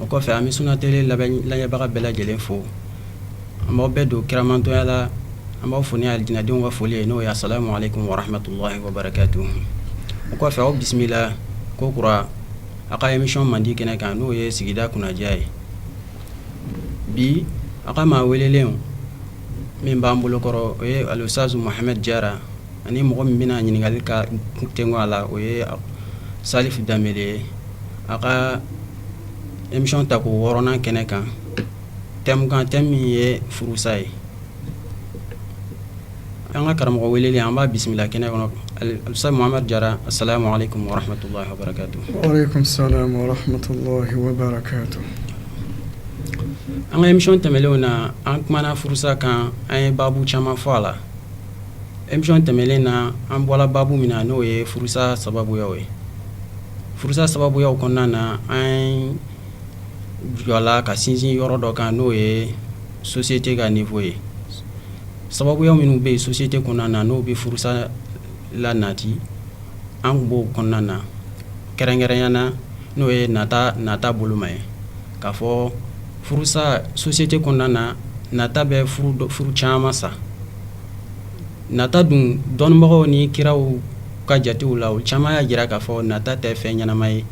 o kɔfɛ an bɛ sun tɛ lamɛnbaga bɛɛ lajɛlen fo an bɛɛ don kiramantɔya la an b'aw fo n'dinɛdenw ka foli ye n'o ye asalamu alekum warahmatulahi wabarakatuhu o kɔfɛ aw bisimila ko kura aw ka emisiyɔn mandi kɛnɛ kan n'o ye sigida kunnadiya ye bi an ka maa welelen min b'an bolokɔrɔ o ye alustazu mahamɛdi jara ani mɔgɔ min bɛna ɲininkali ka kun tɛ a la o ye sali danbele ye aw ka emisiyɔn tako wɔɔrɔnan kɛnɛ kan tɛmu kan tɛmu min ye furusa ye an ka karamɔgɔ welela an b'a bisimila kɛnɛ kɔnɔ alustazu mahamɛdi jara asalamu alekum warahmatulahi wabarakatuhu an ka emisiyɔn tɛmɛnen na an kumana furusa kan an ye baabu caman fɔ a la emisiyɔn tɛmɛnen na an bɔra baabu min na n'o ye furusa sababuyaw ye furusa sababuyaw kɔnɔna na an jɔla ka sinsin yɔrɔ dɔ kan n'o ye sosiyete ka nivo ye sababuya minnu bɛ yen sosiyete kɔnɔna na n'o bɛ furusa lanati an tun b'o kɔnɔna na kɛrɛnkɛrɛnya na n'o ye nata nata boloma ye k'a fɔ furusa sosiyete kɔnɔna na nata bɛ furu caman sa nata dun dɔnnibagaw ni kiraw ka jatew la o caman y'a jira k'a fɔ nata tɛ fɛn ɲɛnama ye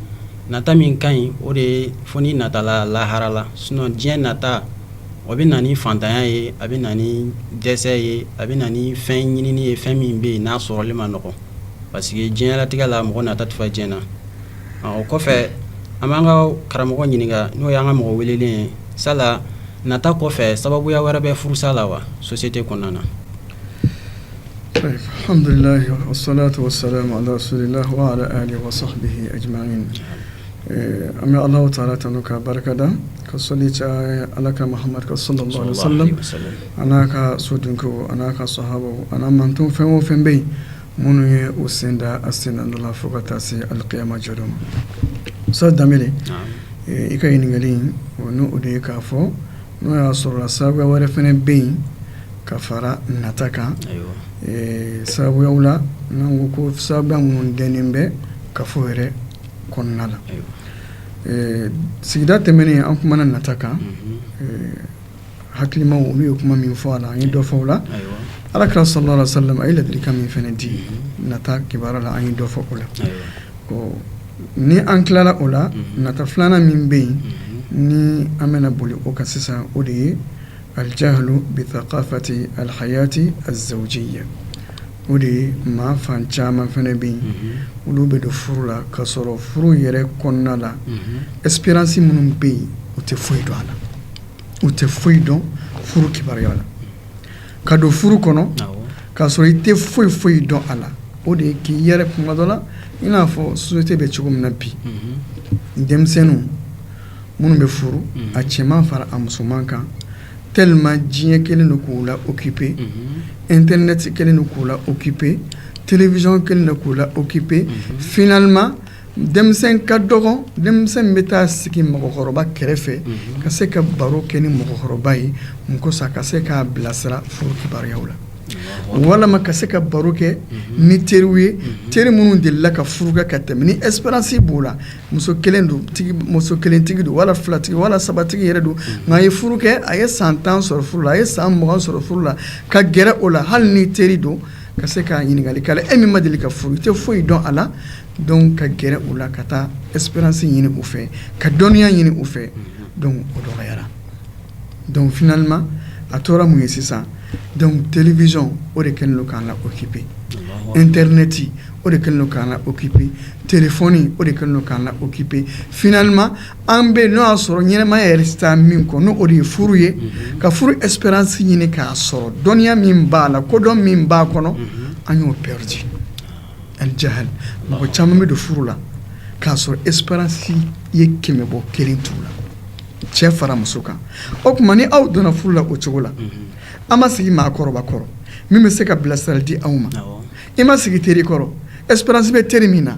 nata min ka ɲi o de ye fɔ nata lahara la sinɔn diɲɛ nata o bɛ na ni faantanya ye a bɛ na ni dɛsɛ ye a bɛ na ni fɛn ɲinini ye fɛn min bɛ yen n'a sɔrɔli man nɔgɔ parce que diɲɛlatigɛ la mɔgɔ nata tɛ fa diɲɛ na o kɔfɛ an b'an ka karamɔgɔ ɲininka n'o y'an ka mɔgɔ welelen ye sa nata kɔfɛ sababuya wɛrɛ bɛ furusa la wa sosiyete kɔnɔna na an bɛ ala taala tanu k'a barika da ka so ala ka an n'a ka so dun an n'a ka so ani mantɔn fɛn o fɛn bɛ yen Minnu ye u sen da a sennɔ la fo ka taa se alikiyama jɔdon ma sali danbele i ka ɲininkali in o n' o de ye k'a fɔ n'o y'a sɔrɔ sababuya wɛrɛ fana bɛ yen ka fara nata kan sababuyaw la n' ko sababuya minnu donnen bɛ kafo yɛrɛ kɔnɔna la sigida tɛmɛnen an kumana nata kan hakilimaw olu ye kuma min fɔ a la an ye dɔ fɔ o la ala kira sɔrɔ sa a ye laadikan min fana di mm-hmm. nata kibaruya la an ye dɔ fɔ o la ni an tilala o la mm-hmm. nata filanan min bɛ yen mm-hmm. ni an bɛna boli o kan sisan o de ye alijahalu bitakafati alihayati azawujiya o de ye maa fan caman fana bɛ yen olu bɛ don furu la k'a sɔrɔ furu yɛrɛ kɔnɔna la esperansi minnu bɛ yen u tɛ foyi dɔn a la u tɛ foyi dɔn furu kibaruya la ka don furu kɔnɔ k'a sɔrɔ i tɛ foyi foyi dɔn a la o de ye k'i yɛrɛ kuma dɔ la i n'a fɔ sosiyete bɛ cogo min na bi mhm. denmisɛnninw minnu bɛ furu mhm. a cɛman fara a musoman kan tɛlɛman diɲɛ kɛlen don k'u la okipe mhm. ɛntɛrinɛti kɛlen don k'u la okipe telewizyɔn kɛlen don k'u la okipe finaliman denmisɛn ka dɔgɔ denmisɛn bɛ taa sigi mɔgɔkɔrɔba kɛrɛfɛ ka se ka baro kɛ ni mɔgɔkɔrɔba ye musa ka se k'a bilasira furu kibaruyaw la walima ka se ka baro kɛ ni teriw ye teri minnu delila ka furu kɛ ka tɛmɛ ni esperansi b'u la muso kelen don muso kelentigi don wala filatigi wala sabatigi yɛrɛ don nka a ye furu kɛ a ye san tan sɔrɔ furu la a ye san mugan sɔrɔ furu la ka gɛrɛ o la hali ni teri don Ka se ka ɲininkali kɛ e min ma deli ka furu i tɛ foyi dɔn a la dɔnku ka gɛrɛ u la ka taa esperansi ɲini u fɛ ka dɔnniya ɲini u fɛ o dɔgɔyara dɔnku finaliman a tora mun ye sisan dɔnku telewizyɔn o de kɛlen don k'an la okipe ɛntɛrinɛti o de kɛlen don k'an la okipe telefɔni o de kɛlen don k'an la okipe finaliman an bɛ n'o y'a sɔrɔ ɲɛnamaya yɛrɛ sisan min kɔnɔ ni o de ye furu ye ka furu esperance ɲini k'a sɔrɔ dɔnniya min b'a la kodɔn min b'a kɔnɔ an y'o perdre al jahal mɔgɔ caman bɛ don furu la k'a sɔrɔ esperance ye kɛmɛ bɔ kelen t'u la cɛ fara muso kan o tuma ni aw donna furu la o cogo la an ma sigi maakɔrɔba kɔrɔ min bɛ se ka bilasirali di aw ma i ma sigi teri kɔrɔ esperansi bɛ teri min na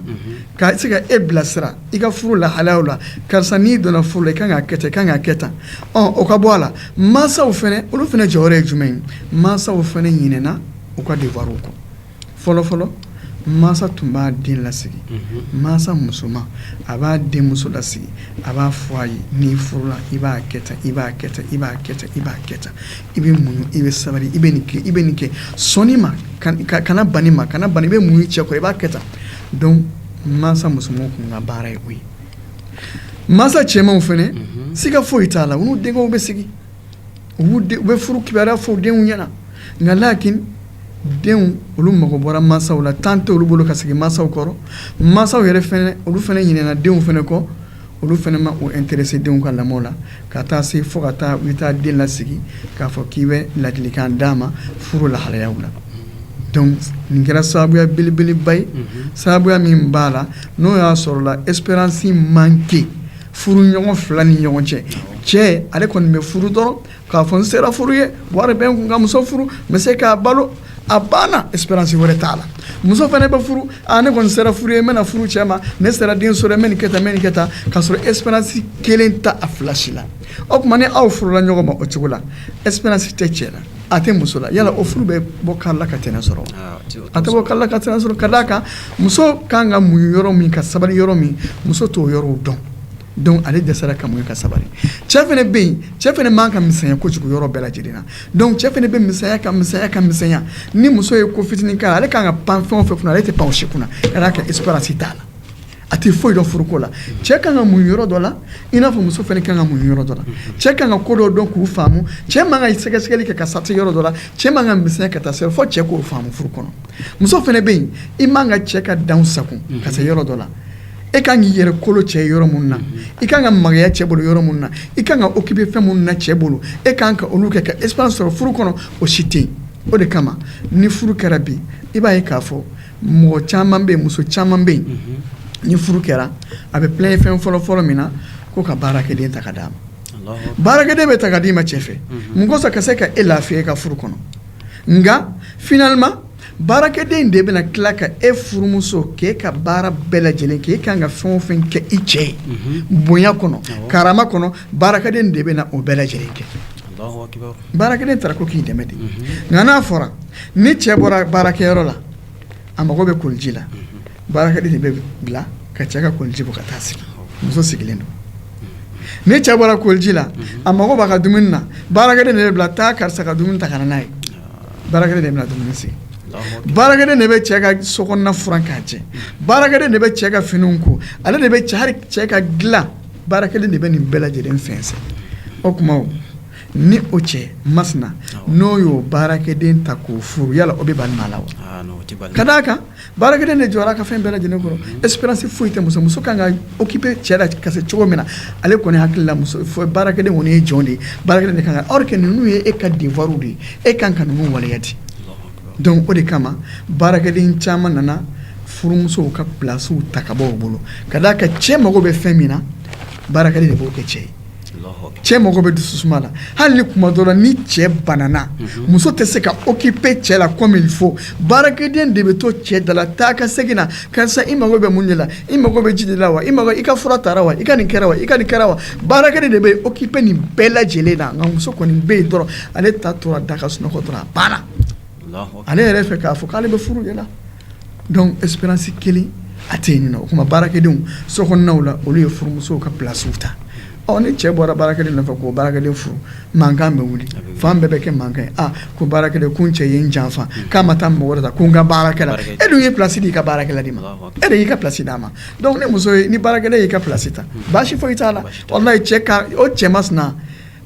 ka se ka e bilasira i ka furu lahalaw la karisa n'i donna furu la i ka kan k'a kɛ tan i ka kan k'a kɛ tan o ka bɔ a la mansaw fana olu fana jɔyɔrɔ ye jumɛn ye mansaw fana ɲinɛna u ka dewariw kɔ fɔlɔfɔlɔ mansa tun b'a den lasigi mansa musoman a b'a denmuso lasigi a b'a fɔ a ye n'i furula i b'a kɛ tan i b'a kɛ tan i b'a kɛ tan i bɛ muɲu i bɛ sabali i bɛ nin kɛ i bɛ nin kɛ sɔn nin ma kana ban nin ma kana ban nin i bɛ muɲu cɛ kɔrɔ i b'a kɛ tan donc mansa musomanw tun ka baara ye o ye mansa cɛmanw fɛnɛ mhm. siga foyi t'a la u n'u denkɛw bɛ sigi u bɛ furu kibaruya fɔ denw ɲɛna nka lakin denw olu mago bɔra mansaw la tan tɛ olu bolo ka sigi mansaw kɔrɔ mansaw yɛrɛ fɛnɛ olu fɛnɛ ɲinɛna denw fɛnɛ kɔ olu fana ma o intéressé denw ka lamɔ la ka taa se fo ka taa u taa den lasigi k'a fɔ k'i bɛ ladilikan d'a ma furu lahalayaw la dɔnku nin kɛra sababuya belebeleba ye sababuya min b'a la n'o y'a sɔrɔ l'expérience manqué furu ɲɔgɔn fila ni ɲɔgɔn cɛ cɛ ale kɔni bɛ furu dɔrɔn k'a fɔ n sera furu ye wari bɛ n kun ka muso furu n bɛ se k'a balo a banna expérience wɛrɛ t'a la muso fana bɛ furu a ne kɔni sera furu ye n bɛna furu cɛ ma ne sera den sɔrɔ n bɛ nin kɛ tan n bɛ nin kɛ tan k'a sɔrɔ expérience kelen t'a fila si la o tuma ni aw furula ɲɔgɔn ma o cogo la expérience tɛ cɛ la a tɛ muso la yala o furu bɛ bɔ kari la ka tɛnɛ sɔrɔ a tɛ bɔ kari la ka tɛnɛ sɔrɔ ka d'a kan muso ka kan ka muɲu yɔrɔ min ka sabali yɔrɔ min muso t'o yɔrɔw dɔn dɔnku ale dɛsɛra ka ka sabali cɛ fana bɛ yen cɛ fana man kan ka misɛnya kojugu yɔrɔ bɛɛ lajɛlen na dɔnku cɛ fana bɛ misɛnya ka misɛnya ka misɛnya ni muso ye ko fitinin kan ale ka kan ka pan fɛn fɛ ale tɛ pan si kunna ale ka expérience t'a la a tɛ foyi dɔn furuko la cɛ ka kan ka muɲu yɔrɔ dɔ la i n'a fɔ muso fana ka kan ka muɲu yɔrɔ dɔ la cɛ ka kan ka ko dɔw dɔn k'u faamu cɛ man kan ka sɛgɛsɛgɛli kɛ ka sati yɔrɔ dɔ la cɛ man kan ka misɛnya ka taa se fɔ cɛ k'o faamu furu kɔnɔ muso fana bɛ yen i man kan ka cɛ ka dan sago ka se yɔrɔ dɔ la e ka kan k'i yɛrɛ kolo cɛ ye yɔrɔ min na i ka kan ka magaya cɛ bolo yɔrɔ min na i ka kan ka occuper fɛn minnu na cɛ bolo e ka kan ka olu kɛ ka e sɔrɔ furu kɔnɔ o si tɛ o de kama ni furu kɛra bi i b'a ye k'a fɔ mɔgɔ caman bɛ muso caman bɛ yen ni furu kɛra a bɛ ye fɛn fɔlɔ fɔlɔ min na ko ka baarakɛden ta ka d'a ma baarakɛden bɛ ta ka d'i ma cɛ fɛ mun kosɔn ka se ka e lafiya e ka furu kɔnɔ nka balima Baarakɛden in de bɛna tila ka e furumuso k'e ka baara bɛɛ lajɛlen kɛ e ka kan ka fɛn o fɛn kɛ i cɛ ye bonya kɔnɔ karama kɔnɔ baarakɛden de bɛna o bɛɛ lajɛlen kɛ baarakɛden tara ko k'i dɛmɛ de nka n'a fɔra ni cɛ bɔra baarakɛyɔrɔ la a mago bɛ koliji la baarakɛden bɛ bila ka cɛ ka koliji bɔ ka taa sigi muso sigilen don ni cɛ bɔra koliji la a mago b'a ka dumuni na baarakɛden bɛ bila taa karisa ka dumuni ta ka n'a ye Baarakɛden de bɛna dumuni sigi baarakɛden de bɛ cɛ ka so kɔnɔna furan k'a jɛ baarakɛden de bɛ cɛ ka fini ko ale de bɛ hali cɛ ka dilan baarakɛden de bɛ nin bɛɛ lajɛlen fɛnkɛ o tuma ni o cɛ masina n'o y'o baarakɛden ta k'o furu yala o bɛ bali maa la wa ka d' a kan Baarakɛden de jɔra a ka fɛn bɛɛ lajɛlen kɔrɔ expérience foyi tɛ muso muso ka kan ka occuper cɛ la ka se cogo min na ale kɔni hakilila muso baarakɛden kɔni ye jɔn de ye baarakɛden de kan aw kɛ ninnu ye e ka devoir de ye e ka kan ka ninnu waleya a t'o dɔn o de kama baarakɛden caman nana furumusow ka pilasiw ta ka bɔ u bolo ka d'a kan cɛ mago bɛ fɛn min na baarakɛden de b'o kɛ cɛ ye cɛ mago bɛ dususuma la hali ni tuma dɔ la ni cɛ banana muso tɛ se ka okipe cɛ la kɔmi fɔ baarakɛden de bɛ to cɛ dala taa ka segin na karisa i mago bɛ mun de la i mago bɛ ji de la wa i i ka fura tara wa i ka nin kɛra wa i ka nin kɛra wa baarakɛden de bɛ okipe nin bɛɛ lajɛlen na nka muso kɔni bɛ yen dɔrɔn ale ta tora da ka sunɔgɔ dɔrɔn a banna ale yɛrɛ fɛ k'a fɔ k'ale bɛ furu de la Dɔnku ɛsiperansi kelen a tɛ yen o tuma baarakɛdenw sonaw la olu ye furumusow ka plasiw ta ɔ ni cɛ bɔra baarakɛden nɔfɛ ko baarakɛden furu mankan bɛ wuli fan bɛɛ bɛ kɛ mankan ye ko baarakɛden ko cɛ ye n janfa k'a ma taa mɔgɔ wɛrɛ ta ko n ka baaraden e dun ye plasi d'i ka baaraden ma e de y'i ka plasi d'a ma dɔnku muso ni baaraden y'i ka plasi ta baasi foyi t'a la cɛ o cɛ masina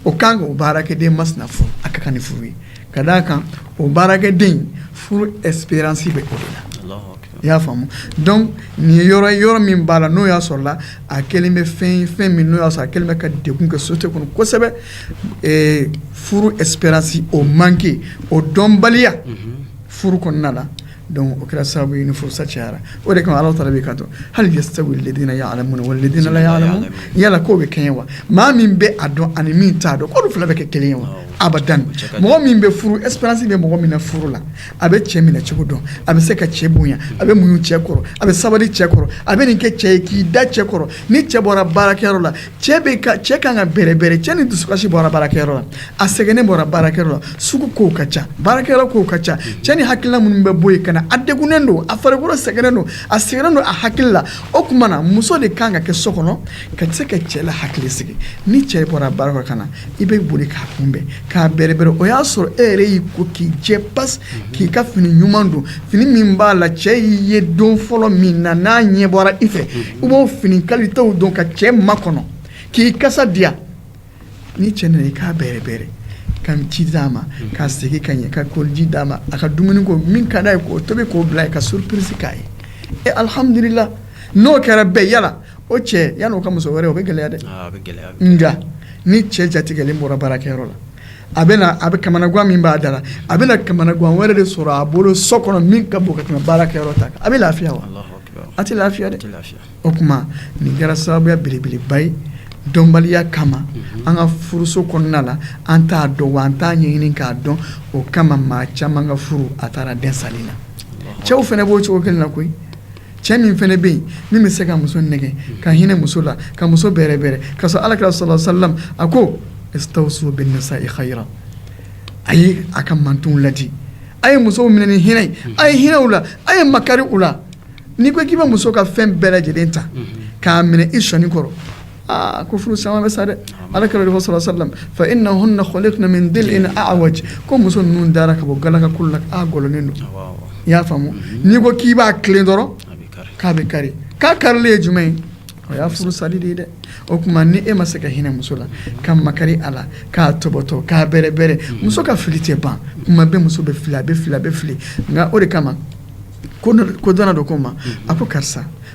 O kan ka o baarakɛden masina furu a ka kan ni furu ye ka d'a kan o baarakɛden furu ɛsiperansi bɛ o de la i y'a faamu dɔnku nin yɔrɔ yɔrɔ min b'a la n'o y'a sɔrɔ la a kɛlen bɛ fɛn fɛn min n'o y'a sɔrɔ a kɛlen bɛ ka degun kɛ sosiyete kɔnɔ kosɛbɛ furu ɛsiperansi o manke o dɔnbaliya furu kɔnɔna la Dɔnku o kɛra sababu ye ni furusa cayara o de ala taala b'i ka to hal yastawi lazina yalamuna walazina la yalamuna yala k'u bɛ kɛɲɛ wa maa min bɛ a dɔn ani min t'a dɔn k'olu fila bɛ kɛ kelen ye wa abadan mɔgɔ min bɛ furu ɛsiperansi bɛ mɔgɔ min na furu la a bɛ cɛ minɛ cogo dɔn a bɛ se ka cɛ bonya a bɛ muɲu cɛ kɔrɔ a bɛ sabali cɛ kɔrɔ a bɛ nin kɛ cɛ ye k'i da cɛ kɔrɔ ni cɛ bɔra baarakɛyɔrɔ la cɛ bɛ ka cɛ kan ka bɛrɛbɛrɛ cɛ ni dusukasi bɔra baarakɛyɔrɔ la a sɛgɛnnen bɔra baarakɛyɔrɔ la sugu kow ka ca baarakɛyɔrɔ kow ka ca cɛ ni hakilila minnu bɛ bɔ yen ka na a degunnen don a farikolo sɛgɛnnen don a sɛgɛnnen don a hakili la o tuma na muso de kan ka kɛ so kɔnɔ ka se ka cɛ lahakilisigi ni cɛ bɔra baarakɛyɔrɔ ka na i bɛ boli k'a kunbɛn k'a bɛrɛbɛrɛ o y'a sɔrɔ e yɛrɛ y'i ko k'i jɛ pas mhm. k'i ka fini ɲuman don fini min b'a la cɛ y'i ye don fɔlɔ min na n'a ɲɛ bɔra i fɛ mhm. i b'o fini kalitew don ka cɛ makɔnɔ k'i kasa diya ni cɛ nana i k'a bɛrɛbɛrɛ ka ji d'a ma mhm. ka segin ka ɲɛ ka koliji d'a ma a ka dumuni ko min ka d'a ye k'o tobi k'o bil'a ye ka surupirisi k'a ye e alihamdulila n'o kɛra bɛɛ yala o cɛ yan n'o ka muso wɛrɛ o bɛ gɛlɛya dɛ nka ni cɛ jatigɛlen bɔra baarakɛyɔrɔ la a bɛ a bɛ kamanagan min b'a da la a bɛna kamanagan wɛrɛ de sɔrɔ a bolo so kɔnɔ min ka bon ka tɛmɛ baarakɛyɔrɔ ta kan a bɛ lafiya wa a tɛ lafiya tɛ lafiya o tuma nin kɛra sababuya belebeleba ye dɔnbaliya kama mhm. an ka furuso kɔnɔna la an t'a dɔn wa an t'a ɲɛɲini k'a dɔn o kama maa caman ka furu a taara dan sali na cɛw fana b'o cogo kelen na koyi cɛ min fana bɛ yen min bɛ se ka muso nɛgɛn ka hinɛ muso la ka muso bɛrɛbɛrɛ ka sɔrɔ ala kira sɔrɔ salam a ko istawusu binisai khayira a ye a ka mantɔnw ladi a ye musow minɛ ni hinɛ ye a ye hinɛ u la a ye makari u la n'i ko k'i bɛ muso ka fɛn bɛɛ lajɛlen ta k'a minɛ i sɔnin kɔrɔ aa ko furu caman bɛ sa dɛ ala kira de salallahu salam fa innahunna holikna min dili'in awaj ko muso ninnu dara ka bɔ galakakolo la a gɔlɔnlen don i y'a faamu n'i ko k'i b'a tilen dɔrɔn k'a bɛ kari k'a karilen ye jumɛn ye o y'a furu sali de ye dɛ o tuma ni e ma se ka hinɛ muso la ka makari a la k'a tɔbɔtɔ k'a bɛrɛbɛrɛ muso ka fili tɛ ban kuma bɛ muso bɛ fili a bɛ fili a bɛ fili nka o de kama kodɔnna dɔ ko ma a ko karisa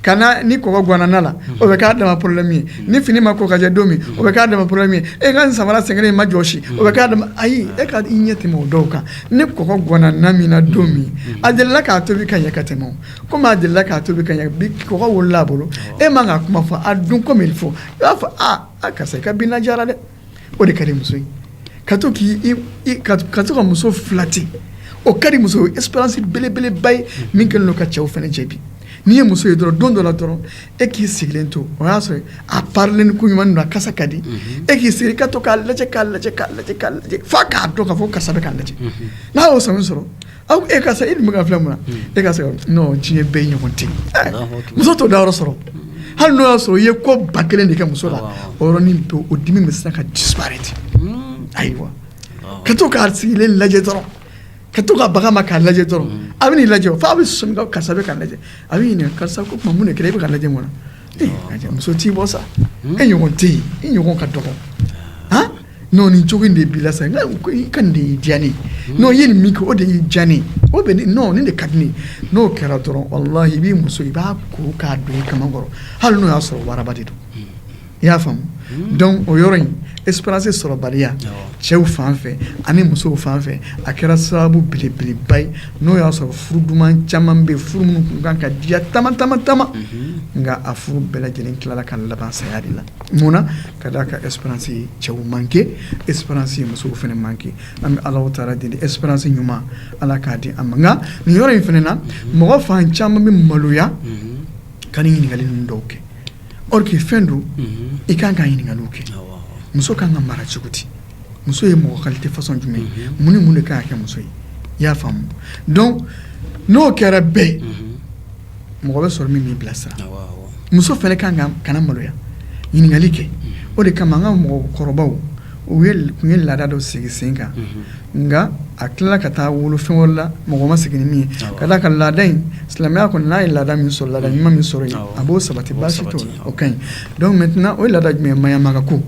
ka na ni kɔgɔ ganana na la o bɛ k'a dama problème ye ni fini ma ko ka jɛ don min o bɛ k'a dama problème e ka samara sɛgɛnnen ma jɔsi o bɛ k'a dama ayi e ka i ɲɛ tɛmɛ o dɔw kan ni kɔgɔ ganana na min na don min a delila k'a tobi ka ɲɛ ka tɛmɛ komi a delila k'a tobi ka ɲɛ bi kɔgɔ wolola a bolo e man ka kuma fɔ a dun ko min fɔ i b'a fɔ aa karisa i ka bi na diyara dɛ o de ka di muso ye ka to k'i ka to ka muso filɛ ten o ka di muso expérience belebeleba ye min kɛlen don ka cɛw fana jɛ bi n'i ye muso ye dɔrɔn don dɔ la dɔrɔn e k'i sigilen to o y'a sɔrɔ a parilen koɲuman don a kasa ka di e k'i sigi ka to k'a lajɛ k'a lajɛ k'a lajɛ k'a lajɛ fo a k'a dɔn ka fɔ karisa bɛ k'a lajɛ n'a y'o sanu sɔrɔ Aw e ka e dun ka filɛ mun na ka tiɲɛ bɛ i ɲɔgɔn tɛ muso to da yɔrɔ sɔrɔ hali n'o y'a sɔrɔ i ye ko ba kelen de kɛ muso la o yɔrɔnin to o dimi bɛ se ka dibaɛrɛ ten ayiwa ka to k'a sigilen lajɛ dɔrɔn ka to ka bagan ma k'a lajɛ dɔrɔn a b'i lajɛ fo a bɛ sɔmi karisa bɛ ka lajɛ a b'i ɲininka karisa ko tuma mun de kɛ e bɛ ka lajɛ ko non muso t'i bɔ sa e ɲɔgɔn tɛ yen i ɲɔgɔn ka dɔgɔ non nin cogo in de b'i la sa n ko i ka nin de y'i diya ne ye non i ye nin min kɛ o de y'i diya ne ye o bɛ ne non nin de ka di ne ye n'o kɛra dɔrɔn walahi i b'i muso i b'a ko k'a don i kaman kɔrɔ hali n'o y'a sɔrɔ waraba de don i y'a faamu donc o yɔrɔ in expérience sɔrɔbaliya cɛw fan fɛ ani musow fan fɛ a kɛra sababu belebeleba ye n'o y'a sɔrɔ furu duman caman bɛ furu minnu tun kan ka diya tama tama tama nka a furu bɛɛ lajɛlen tilala ka laban saya de la mun na Ka da a kan expérience ye cɛw manke expérience ye musow fana manke an bɛ ala taala deli expérience ɲuman ala k'a di an ma nin yɔrɔ in fana na mɔgɔ fan caman bɛ maloya ka ɲininkali ninnu dɔw kɛ or que fɛn don i ka kan ka ɲininkali kɛ muso ka kan ka mara cogo di muso ye mɔgɔ qualité façon jumɛn ye mun ni mun de ka kɛ muso ye i y'a faamu donc n'o kɛra bɛɛ mɔgɔ bɛ sɔrɔ min b'i bilasira muso fana ka kan kana maloya ɲininkali kɛ o de kama an ka mɔgɔkɔrɔbaw u tun ye laada dɔ sigi sen kan nka a tilala ka taa wolo fɛn wɛrɛ la mɔgɔ ma segin min ye ka ka laada in silamɛya kɔni n'a ye laada min sɔrɔ laada ɲuman min sɔrɔ yen a b'o sabati baasi tɛ o ka ɲi dɔw mɛ tɛna o laada jumɛn ye maɲamaganko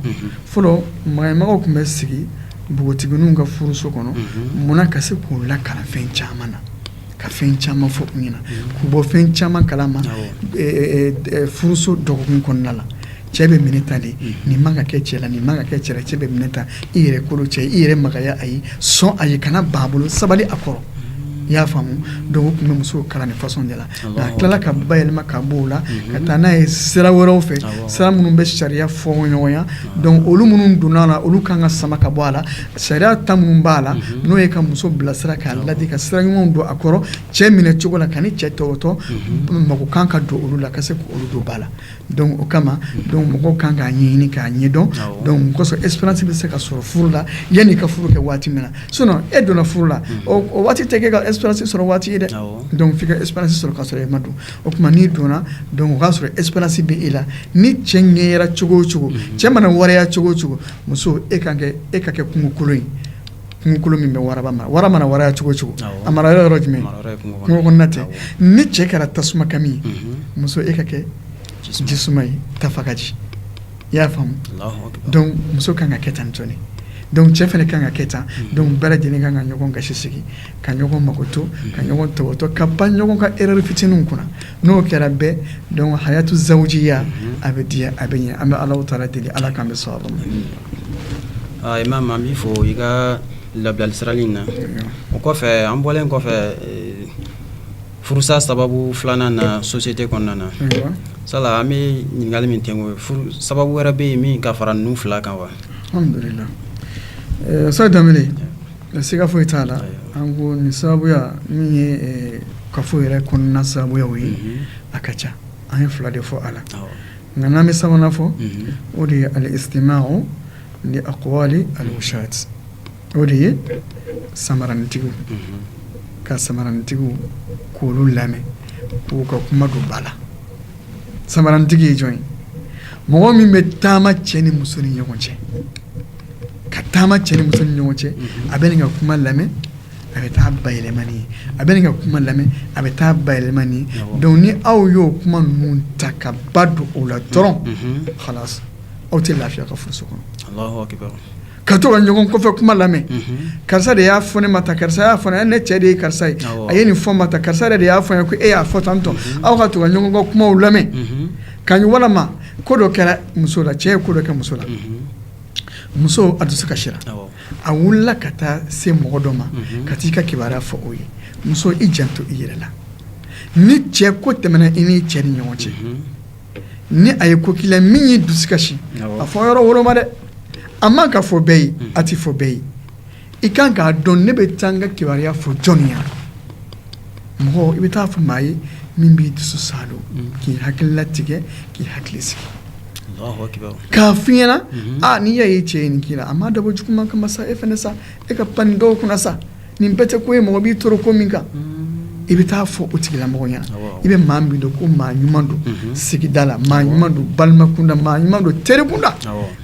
fɔlɔ maɲamaganw tun bɛ sigi npogotigiw ka furuso kɔnɔ mun na ka se k'u lakalan fɛn caman na ka fɛn caman fɔ u ɲɛna k'u bɔ fɛn caman kala ma furuso dɔgɔkun kɔnɔna la cɛ bɛ minɛ tan de nin man ka kɛ cɛ la nin man ka kɛ cɛ cɛ bɛ minɛ tan i yɛrɛ kolo cɛ i yɛrɛ maya a ye sɔn a ye kana ban a bolo sabali a kɔrɔ i y'a faamu dɔw tun bɛ muso kalan ni fasɔn de la a tilala k'a bayɛlɛma ka bɔ o la ka taa n'a ye sira wɛrɛw fɛ sira minnu bɛ sariya fɔɲɔgɔnya olu minnu donna a la olu kan ka sama ka bɔ a la Sariya ta minnu b'a la n'o ye ka muso bilasira k'a la ka sira ɲuman don a kɔrɔ cɛ minɛ cogo la ka cɛ topoto mɔgɔ kan ka don olu la ka se olu don ba la o kama mɔgɔw kan k'a ɲɛɲini k'a ɲɛdɔn comme ça expérience bɛ se ka sɔrɔ furu la yan'i ka furu kɛ waati min na so e donna furu la o waati tɛ i ka expérience sɔrɔ waati ye dɛ dɔnku i ka expérience sɔrɔ ka sɔrɔ e ma don o tuma n'i donna o y'a sɔrɔ expérience bɛ e la ni cɛ ɲɛ cogo cogo cɛ mana waraya cogo cogo muso e ka kɛ e ka kɛ kungokolon ye kungokolon min bɛ wara mara wara mana waraya cogo cogo a marayɔrɔ jumɛn kungo na tɛ ni cɛ kɛra tasuma kami muso e ka kɛ ji suma ye tafagaji i y'a faamu dɔnku muso ka kan ka kɛ tan ncɔn dɔnku cɛ fana ka kan ka kɛ tan dɔnku bɛɛ lajɛlen ka kan ka ɲɔgɔn gasi sigi ka ɲɔgɔn makoto ka ɲɔgɔn topoto ka pan ɲɔgɔn ka erreur fitinin kunna n'o kɛra bɛɛ dɔnku hayatu zawujiya a bɛ diya a bɛ ɲɛ an bɛ ala taala deli ala k'an bɛɛ son o la imamu an b'i fo i ka labilali sarali in na o kɔfɛ an bɔlen kɔfɛ eh, furusa sababu filanan na sosite kɔnɔna na sa an bɛ ɲininkali min kɛ sababu wɛrɛ bɛ yen min ka fara ninnu fila kan wa alhamdulilahi Nka siga foyi t'a la an kɔni sababuya min ye kafo yɛrɛ kɔnɔna sababuya ye a ka ca an ye fila de fɔ a la nka n'an bɛ sabanan fɔ o de ye alistimawu li akwali alwushati o de ye samaranintigiw ka samaranintigiw kow lamɛn k'u ka kuma don ba la samaranintigi ye jɔn ye mɔgɔ min bɛ taama cɛ ni muso ni ɲɔgɔn cɛ ka taama cɛ ni muso ni ɲɔgɔn cɛ a bɛ nin ka kuma lamɛn a bɛ taa a bayɛlɛma nin ye a bɛ nin ka kuma lamɛn a bɛ taa a bayɛlɛma nin ye dɔnku ni aw y'o kuma ninnu ta ka ba don o la dɔrɔn hala aw tɛ lafiya a ka furuso kɔnɔ ka to ka ɲɔgɔn kɔfɛ kuma lamɛn karisa de y'a fɔ ne ma tan karisa y'a fɔ ne cɛ de ye karisa ye a ye nin fɔ i ma tan karisa de y'a fɔ ko e y'a fɔ tan tɔ aw ka to ka ɲɔgɔn ka kumaw lamɛn ka walima ko dɔ kɛra muso la cɛ ye ko dɔ kɛ muso la muso a dusu kasira a wulila ka taa se mɔgɔ dɔ ma ka t'i ka kibaruya fɔ o ye muso i jan to i yɛrɛ la ni cɛ ko tɛmɛna i n'i cɛ ni ɲɔgɔn cɛ ni a ye ko k'i la min y'i dusu kasi a fɔ yɔrɔ woloma dɛ a man ka fɔ bɛɛ ye a tɛ fɔ bɛɛ ye i kan k'a dɔn ne bɛ taa n ka kibaruya fɔ jɔn ye mɔgɔ i bɛ taa fɔ maa ye min b'i dusu saalo mm. k'i hakili latigɛ k'i hakili sigi k'a f'i ɲɛna mm-hmm. a n'i y'a ye cɛ ye nin k'i la a ma dabɔ juguman kama sa e fana sa e ka pan nin dɔw kunna sa nin bɛɛ tɛ ko ye mɔgɔ b'i tɔɔrɔ ko min kan mm. i bɛ taa fɔ o tigilamɔgɔ ɲɛna i bɛ maa min dɔn ko maa ɲuman don mm-hmm. sigida la maa ɲuman don balima kunda maa ɲuman don teri kunda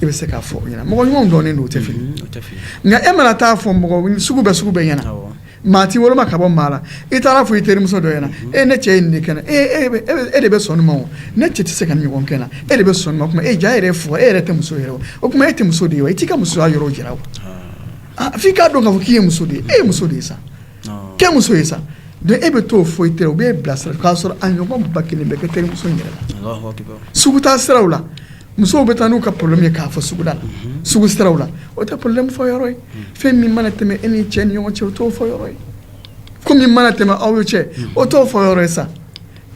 i bɛ se k'a fɔ o ɲɛna mɔgɔ ɲumanw dɔnnen don o tɛ fili mm-hmm. Nka e mana taa fɔ mɔgɔ sugu bɛɛ sugu bɛɛ ɲɛna maa tɛ woloma ka bɔ maa la i taara fɔ i terimuso dɔ ɲɛna e ne cɛ nin kɛ e de bɛ sɔn a ma ne cɛ tɛ se k'a ɲɔgɔn kɛ n na e de bɛ sɔn e diya yɛrɛ fɔ e yɛrɛ tɛ muso o tuma e tɛ muso de ye wa i t'i ka musoya yɔrɔ jira wa f'i k'a dɔn ka fɔ k'i ye muso de ye e ye muso de ye sa kɛ muso ye sa e bɛ to fɔ i tɛ u b'i bilasira k'a sɔrɔ a ɲɔgɔn ba kelen bɛ kɛ terimuso yɛrɛ la sugu taa siraw la musow bɛ taa n'u ka problème ye k'a fɔ suguda la sugu siraw la o tɛ problème fɔ yɔrɔ ye fɛn min mana tɛmɛ e ni cɛ ni ɲɔgɔn cɛ o t'o fɔ yɔrɔ ye ko min mana tɛmɛ aw ye cɛ o t'o fɔ yɔrɔ ye sa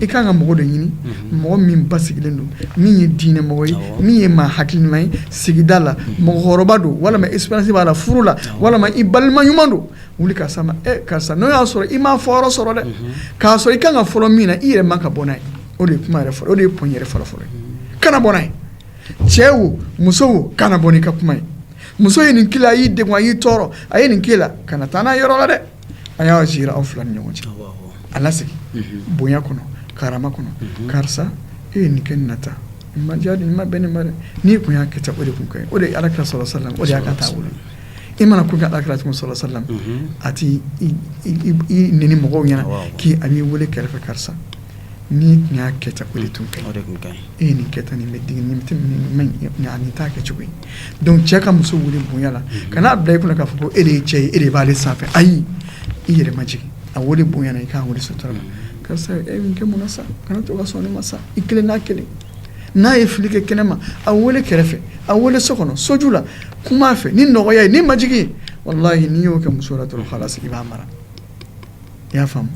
i ka kan ka mɔgɔ de ɲini mɔgɔ min basigilen don min ye diinɛ mɔgɔ ye min ye maa hakili ɲuman ye sigida la mɔgɔkɔrɔba don walima expérience b'a la furu la walima i balima ɲuman don wuli ka s'a ma karisa n'o y'a sɔrɔ i m ma fɔ sɔrɔ dɛ k'a sɔrɔ i ka kan ka fɔlɔ min na i yɛrɛ man kan ka bɔ n'a ye o de kuma yɛrɛ o de ye p yɛrɛ fɔlɔ fɔlɔ kana bɔ n'a ye cɛ wo muso kana bɔ n'i ka kuma ye muso ye nin k'i la y'i de a y'i tɔɔrɔ a ye nin k'i la kana taa n'a yɔrɔ la dɛ a y'a ji aw fila ni ɲɔgɔn cɛ a lasegin bonya kɔnɔ karama kɔnɔ karisa e ye nin kɛ nata ma diya ni ma bɛn nin ma dɛ n'i tun y'a kɛ o de tun kɛ o de ala ka sɔrɔ sa la o de y'a ka taa wolo i mana ko ka ala kɛra tun sɔrɔ sa la a tɛ ni mɔgɔw ɲɛna k'i a b'i weele kɛrɛfɛ karisa n'i tun y'a kɛ o de tun kɛ tun ka e ye nin kɛ tan nin nin t'a kɛcogo donc cɛ ka muso weele bonya la kan'a bila e kɔnɔ k'a fɔ ko e de ye cɛ ye e de b'aale sanfɛ ayi i yɛrɛ majigin a weele bonya i k'a weele sutura la karisa e kɛ mun sa kana to ka sɔn ne ma sa i kelen n'a kelen n'a ye fili kɛ kɛnɛ ma a weele kɛrɛfɛ a weele so kɔnɔ soju la kuma a fɛ ni nɔgɔya ye ni majigin wala n'i y'o kɛ muso la dɔrɔn' sigi b'a mara i y'a faamu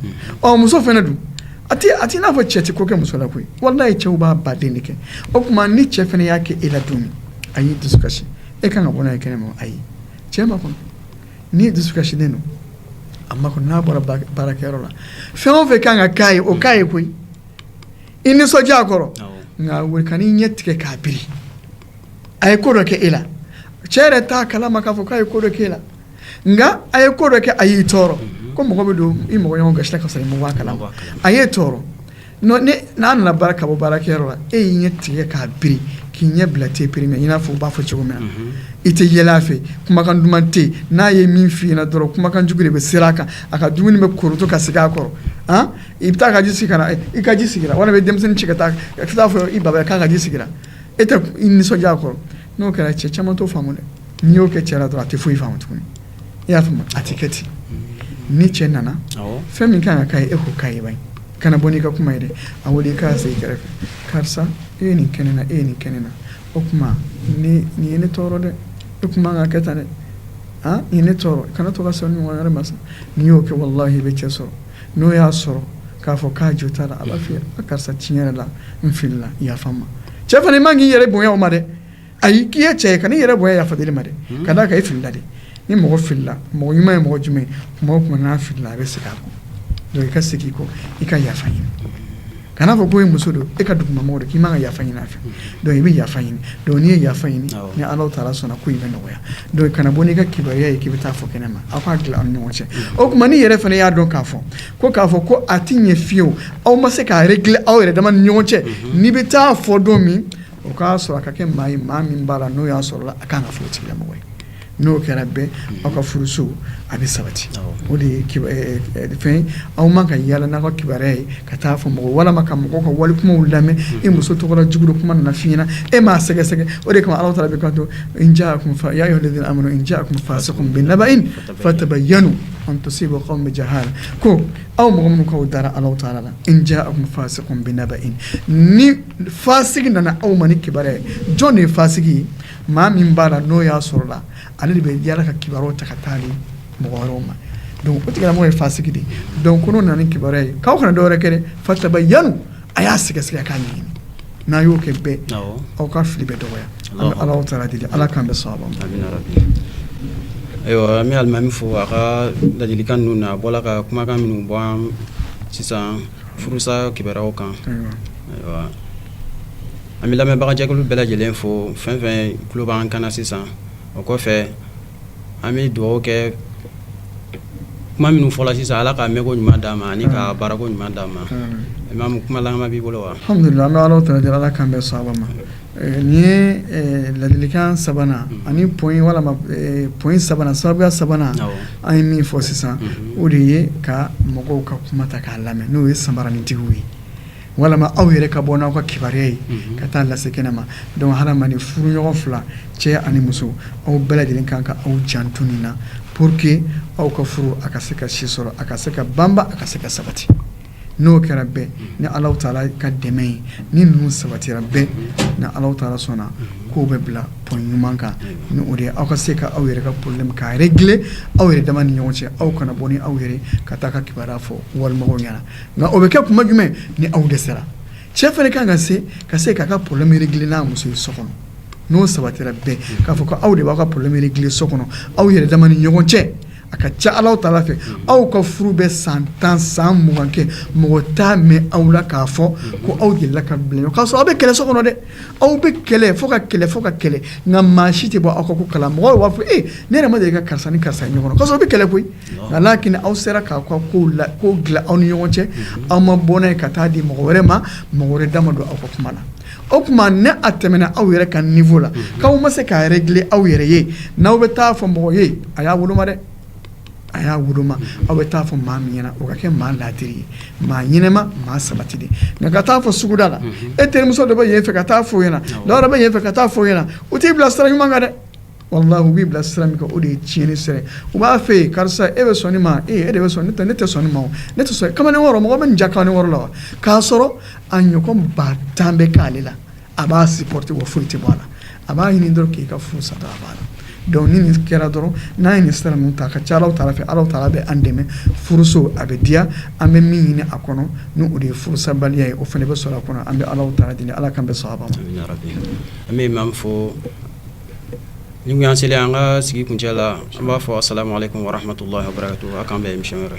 ɔ muso fana don a a tɛ n'a fɔ cɛ tɛ ko kɛ muso la koyi walayi cɛw b'a ba den de kɛ o tuma ni cɛ fana y'a kɛ e la don min a y'i dusu kasi e man kan ka bɔ n'a ye kɛnɛ ma a ye cɛ makɔnɔ n'i ye dusukasilen don a makɔnɔ n'a bɔra baarakɛyɔrɔ la fɛn o fɛn kan ka k'a ye o k'a ye koyi i nisɔndiya a kɔrɔ nka wuli ka n'i ɲɛ tigɛ k'a biri a ye ko dɔ kɛ e la cɛ yɛrɛ t'a kalama k'a fɔ k'a ye ko dɔ k'e la nka a ye ko dɔ kɛ a y'i tɔɔrɔ ko mɔgɔ bɛ don i mɔgɔ ɲɔgɔn gasi ka sɔrɔ i kala a ye tɔɔrɔ n'a nana baara ka bɔ baarakɛyɔrɔ la e y'i ɲɛ tigɛ k'a bi k'i ɲɛ bila tɛ pereri mɛn n'a fɔ u b'a fɔ cogo min na i tɛ yɛlɛ fɛ kumakan duman tɛ n'a ye min fɔ i dɔrɔn kumakan jugu de bɛ se a kan a ka dumuni bɛ korotu ka sigi a kɔrɔ i bɛ taa ka ji ka i ka ji sigira walima bɛ denmisɛnnin ci ka taa ka taa a fɔ i ba k'a ka ji sigira e tɛ nisɔndiya a kɔrɔ n'o kɛra cɛ caman t'o faamu dɛ n'i y'o kɛ cɛ la dɔrɔn a tɛ foyi faamu tuguni i y'a faamu a tɛ kɛ ten ni cɛ nana fɛn min ka kan ka k'a ye e k'o k'a ye bani kana bɔ n'i ka kuma ye dɛ a wele i k'a sigi kɛrɛfɛ karisa e ye nin kɛ ne na e ye nin kɛ ne na o tuma nin ye ne tɔɔrɔ dɛ e tun man kan k'a kɛ tan dɛ han nin ye ne tɔɔrɔ kana to ka sɔn ɲɔgɔn wɛrɛ ma sa n'i y'o kɛ walahi i bɛ cɛ sɔrɔ n'o y'a sɔrɔ k'a fɔ k'a jo t'a la a b'a f'i ye a karisa tiɲɛ yɛrɛ la n filila yafa n ma cɛ fana i man k'i yɛrɛ bonya o ma dɛ A y' k'i ye cɛ ka ne yɛrɛ bɔ yafa ma dɛ k'a da a kan e filila de ni mɔgɔ fili mɔgɔ ɲuman ye mɔgɔ jumɛn mɔgɔ tun fili a bɛ segin a kɔ i ka segin i kɔ i ka yafa ɲini kana fɔ ko e muso don e ka dugumamɔgɔ k'i man kan ka yafa ɲini a fɛ donc i bɛ yafa ɲini dɔn n'i ye yafa ɲini ni ala taala sɔnna ko i bɛ nɔgɔya don kana bɔ n'i ka kibaruya ye k'i bɛ taa fɔ kɛnɛ ma aw k'a dilan ni ɲɔgɔn cɛ o tuma n'i yɛrɛ fana y'a dɔn k'a fɔ ko k'a fɔ ko a tɛ ɲɛ fiyew aw ma se k'a yɛrɛ dilan aw yɛrɛ dama ni ɲɔgɔn cɛ n'i bɛ taa fɔ dɔ min o k'a sɔrɔ a ka kɛ maa ye maa min b'a la n'o y'a sɔrɔ a ka kan ka furu tigilamɔgɔ ye n'o kɛra bɛn aw ka furuso a bɛ sabati o de ye eh, eh, fɛn aw man kan ka yaala n'aw ka kibaruya ye ka taa fɔ mɔgɔ walima ka mɔgɔ ka wali kumaw lamɛn e muso tɔgɔ jugu kuma nana f'i ɲɛ na e m'a sɛgɛsɛgɛ o de kama ala taala bɛ ka to in jaakum fa yaa ayuhalazina amanu in jaakum faasikun binabayin fatabayanu an tusibu kawman bijahala ko aw mɔgɔ minnu k'aw dara ala taala la in jaakum faasikun binabayin ni fasigi nana aw ma ni kibaru ye jɔn de ye fasigi ye maa min b'a la n'o y'a sɔrɔ la ale de bɛ yaala ka kibaru ta ka taa mɔgɔ wɛrɛw ma donc o tigilamɔgɔ ye fasigi de donc ko n'o nana ni kibaru ye k'aw kana dɔwɛrɛ kɛ dɛ fatabayanu a y'a sɛgɛsɛgɛ k'a ɲini n'a y'o kɛ bɛɛ aw ka fili bɛ dɔgɔya an bɛ ala taala deli ala k'an bɛɛ sɔn a ma ayiwa an bɛ alimami fo a ka ladilikan ninnu na a bɔra ka kumakan minnu fɔ sisan furusakow kan an bɛ lamɛnbagajɛkulu bɛɛ lajɛlen fo fɛn o fɛn tulo b'an kan na sisan o kɔfɛ an bɛ dugawu kɛ kuma minnu fɔla sisan ala k'a mɛnko ɲuman d'an ma ani k'a baarako ɲuman d'an ma imamu kuma laban b'i bolo wa Nin ye ladilikan sabanan ani walima point sabanan sababu sabanan an ye min fɔ sisan o de ye ka mɔgɔw ka kuma ta k'a lamɛn n'o ye sabaranintigiw ye walima aw yɛrɛ ka bɔ n'aw ka kibaruya ye ka taa lase kɛnɛ ma dɔnku ha ni furu ɲɔgɔn fila cɛ ani muso aw bɛɛ lajɛlen kan ka aw janto nin na pour que aw ka furu a ka se ka si sɔrɔ a ka se ka banba a ka se ka sabati n'o kɛra bɛɛ ni ala taala ka dɛmɛ ye ni ninnu sabatira bɛɛ ni ala taala sɔnna k'o bɛ bila point ɲuman kan ni o de aw ka se ka aw yɛrɛ ka problème k'a régler aw yɛrɛ dama ni ɲɔgɔn cɛ aw kana bɔ ni aw yɛrɛ ka taa ka kibaruya fɔ walimɔgɔ ɲɛna nka o bɛ kɛ tuma jumɛn ni aw de sera cɛ fana kan ka se ka se k'a ka problème régler n'a muso ye so kɔnɔ n'o sabatira bɛɛ k'a fɔ ko aw de b'aw ka problème régler so kɔnɔ aw yɛrɛ dama ni ɲɔgɔn cɛ a ka ca ala taala fɛ aw ka furu bɛ san tan san mugan kɛ mɔgɔ t'a mɛn aw la k'a fɔ ko aw delila ka bilen k'a sɔrɔ aw bɛ kɛlɛ so kɔnɔ dɛ aw bɛ kɛlɛ fo ka kɛlɛ fo ka kɛlɛ nka maa si tɛ bɔ aw ka ko kalama mɔgɔ b'a fɔ e ne yɛrɛ ma deli ka karisa ni karisa ɲɔgɔn kɔnɔ sɔrɔ bɛ kɛlɛ koyi nka' aw sera k'aw ka ko la ko dilan aw ni ɲɔgɔn cɛ aw ma bɔ n'a ye ka taa di mɔgɔ wɛrɛ ma mɔgɔ wɛrɛ da ma don aw ka kuma na O tuma ni a tɛmɛna aw yɛrɛ ka niveau la k'aw ma se k'a régler aw yɛrɛ ye n' aw bɛ taa fɔ mɔgɔ ye a y'a woloma dɛ a y'a woloma aw bɛ taa fɔ maa min ɲɛna o ka kɛ maa laadiri ye maa ɲɛnama maa sabati de nka ka taa fɔ suguda la e terimuso de bɛ yen fɛ ka taa fɔ ɲɛna la bɛ yen fɛ ka taa fɔ ɲɛna o t'i bila sira ɲuman kan dɛ Wallah u b'i bila sira min o de ye tiɲɛn sira u b'a fɔ i ye karisa e bɛ sɔn nin ma e de bɛ sɔn ne tɛ ne tɛ sɔn ma ne tɛ kamalen wɔɔrɔ mɔgɔ bɛ ja kan wɔɔrɔ la k'a sɔrɔ a ɲɔgɔn ba tan bɛ k'ale la a b'a supporter bɔ foyi tɛ bɔ a la a b'a ɲini dɔrɔn k'i ka furu sata a b'a la dɔnku ni nin kɛra dɔrɔn n'a ye nin sira ninnu ta ka ca ta fɛ ala taala bɛ an dɛmɛ furuso a bɛ diya an bɛ min ɲini a kɔnɔ n' o de ye furusabaliya ye o fana bɛ sɔrɔ a kɔnɔ an bɛ ala taala deli ala k'an bɛɛ sɔrɔ a an bɛ fɔ Dɔnku an selen an ka sigi kuncɛ la an b'a fɔ assalamu aleykum warahmatullahi wabarakatuhu a k'an bɛn émission wɛrɛ